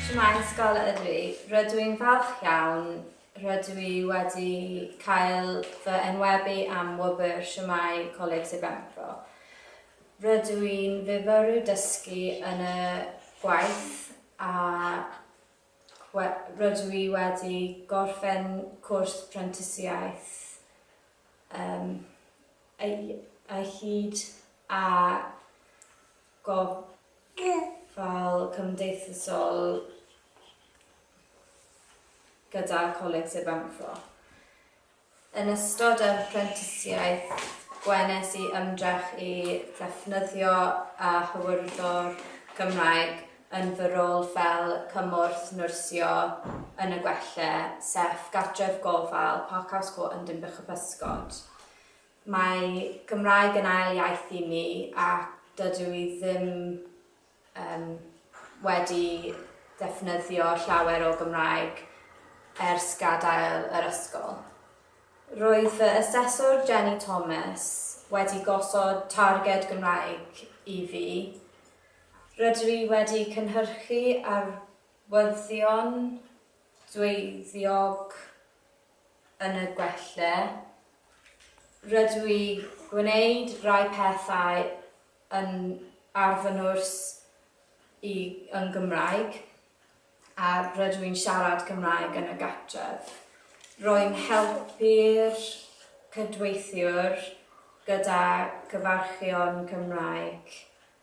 Shwmae ysgol ydw i. Rydw i'n falch iawn, rydw i wedi cael fy enwebu am wobr Shwmae Coleg Sir Benfro. Rydw i'n fyfyriwr dysgu yn y gwaith a we- rydw i wedi gorffen cwrs prentisiaeth yym ei- ei hyd a gofal cymdeithasol gyda Coleg Sir Benfro. Yn ystod yr apprentisiaeth, gwenes i ymdrech i ddefnyddio a hywyrddor Gymraeg yn fy rôl fel cymorth nyrsio yn y gwelle, sef gartref gofal Parkhouse Court yn Dinbych-y-pysgod. Mae Cymraeg yn ail iaith i mi a dydw i ddim yym wedi defnyddio llawer o Gymraeg ers gadael yr ysgol. Roedd fy aseswr Jenny Thomas wedi gosod targed Gymraeg i fi. Rydw i wedi cynhyrchu arwyddion dweuddiog yn y gwella, rydw i gwneud rhai pethau yn ar fy nwrs i yn Gymraeg a rydw i'n siarad Cymraeg yn y gartref. Rwy'n helpu'r cydweithiwr gyda cyfarchion Cymraeg.